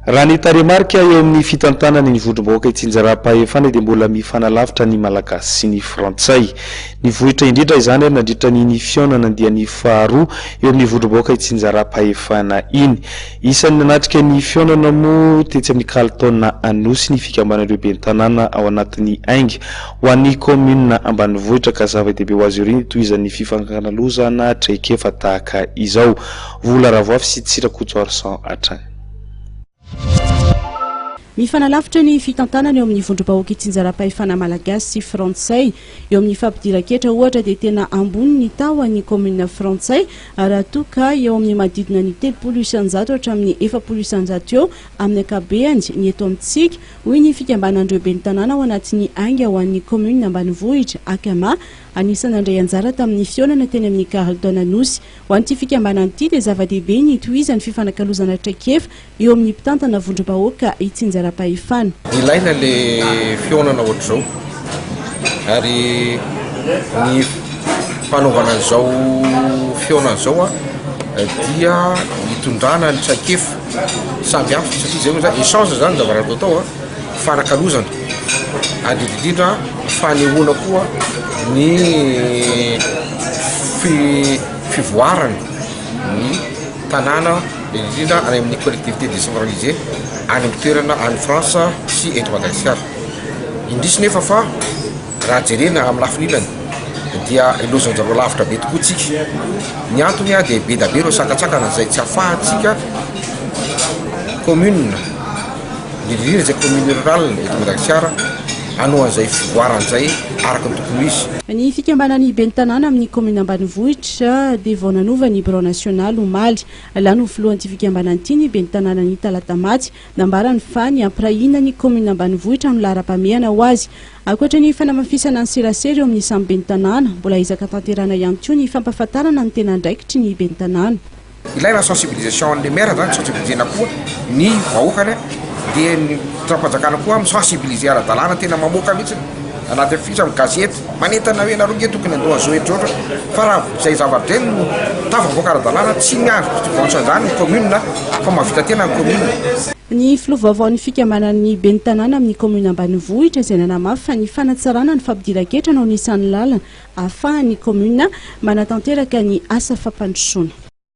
Raha ny tarehimarika eo amin'ny fitantanany ny vondrom-bahoaka itsinjaram-pahefana dia mbola mifanalavitra ny Malagasy sy ny Frantsay. Nivohitra indrindra izany ary nandritra ny ny fihaonana andiany faharoa eo amin'ny vondrom-bahoaka itsinjaram-pahefana iny. Isan'ny nanatrika ny fihaonana moa tetsy amin'ny kalitaona Anosy ny fikambanan'ireo ben'ny tanàna ao anatin'ny Ainga ho an'ny kaominina ambanivohitra ka zava-dehibe ho azy ireo ny hitohizan'ny fifankakalozana traikefa tahaka izao. Vola Ravoafy sy tsy Rakotoarison hatrany. Mifanalavitra ny fitantanana eo amin'ny vondrom-bahoaka itsinjaram-pahefana malagasy sy frantsay. Eo amin'ny fampidiran-ketra ohatra dia tena ambony ny tahon'ny kaominina frantsay raha toa ka eo amin'ny manodidina ny telopolo isan-jato hatramin'ny efapolo isan-jato eo amin'ny ankabeany ny eto amintsika, hoy ny fikambanan'ireo ben'ny tanàna ao anatin'ny Ainga ho an'ny kaominina ambanivohitra, Acama, anisan'ny nandray anjara tamin'ny fihaonana teny amin'ny Carlton Anosy. Ho an'ity fikambanana ity dia zava-dehibe ny hitohizan'ny fifanakalozana traikefa eo amin'ny mpitantana vondrom-bahoaka itsinjaram-pahefana. Ilaina le fihaonana ohatr'izao ary ny fanaovana an'izao fihaonana izao a dia hitondrana ny traikefa samy hafa satria zay hoe zany échange zany zavatra atao atao a. fanakalozana ary indrindra fanehoana koa ny fivoarana ny tanàna indrindra any amin'ny collectivité décentralisée any amin'ny toerana any France sy eto Madagasikara. Indrisy nefa fa raha jerena amin'ny lafiny ilany dia lozan-dry lavitra be tokoa tsika. Ny antony dia be dia be ireo sakantsakana izay tsy afahantsika commune. Diririr izay commune rurale eto Madagasikara hanao an'izay fivoarany izay araka ny tokony ho izy. Ny fikambanan'ny ben'ny tanàna amin'ny kaominina ambanivohitra dia vao nanova ny birao nasionaly omaly. Lany ho filohan'ity fikambanana ity ny ben'ny tanàna ny talatamaty. Nambarany fa ny hampirahina ny kaominina ambanivohitra amin'ny laharam-pahamehana ho azy. Ankoatra ny fanamafisana ny serasera eo amin'ny samy ben'ny tanàna, mbola ezaka tanterahina ihany koa ny fampahafantarana ny tena andraikitry ny ben'ny tanàna. Ilaina ny sensibilisation an'ilay maire zany, sensibilisena koa ny vahoakany dia ny fitondrapanjakana koa mi sensibiliser ara-dalàna tena mamoaka mihitsy anaty affiche amin'ny gazety manentana hoe nareo nge tokony andoha zao etrotra fa raha izay zava-dreny no tafavoaka ara-dalàna tsy miandry contribution izany ny commune fa mahavita tena ny commune. Ny filoha vaovaon'ny fikambanan'ny ben'ny tanàna amin'ny kaominina ambanivohitra izay nanamafy fa ny fanatsarana ny fampidiran-ketra no anisan'ny lalana ahafahan'ny kaominina manatanteraka ny asa fampandrosoana.